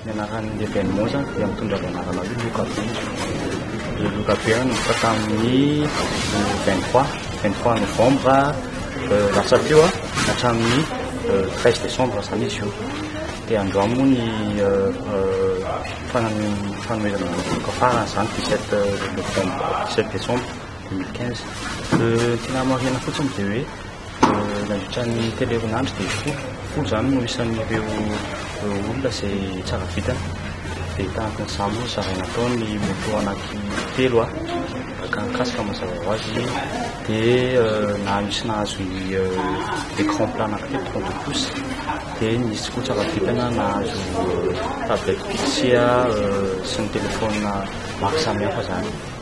Ny anaran'ny événement zany dia mitondra ny anarana hoe Loka be. Ny Loka be nanomboka tamin'ny 23, 23 novembre euh, lasa teo a, hatramin'ny euh, 13 décembre zany izy io. Dia andro any moa ny euh, euh, fanan- fanomezana ny loka farany zany 17 novembre, 17 décembre 2015. Euh, Ny tena marihana fotsiny dia hoe Nandritra ny telo herinandro dia folo, folo izany no isan'ireo olona izay tsara vitana. Dia tahaka an'izany moa ny zaraina tao ny moto anankitelo araka ny casque mazava ho azy dia na nisy nahazo ny écran plat anankitelo trente-deux pouces dia nisy koa tsara vitana nahazo tablette Pixia sy ny téléphone maro samihafa izany.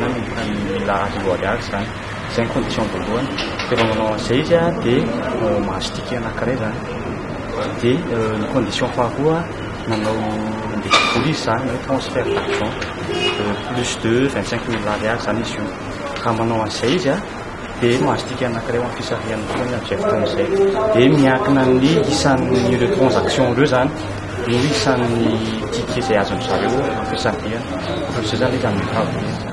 Nanomboka ny mila azy aloha daholo izany. Izay ny condition voalohany. Dia vao manao an'izay izy dia mahazo ticket anankiray izany. Dia ny condition faharoa manao handeha hivory izy izany na hoe transfert d'argent plus de vingt cinq mille ariary izany izy io. Raha manao an'izay izy. dia mahazotika anankiray amin'ny fisarihany koa ny adjecte amin'izay dia miankina amin'ny isan'ny ireo transaction ireo zany no isan'ny ticket izay azon'ny zareo amin'ny fisarihana ohatr'izay zany izy amin'ny travaux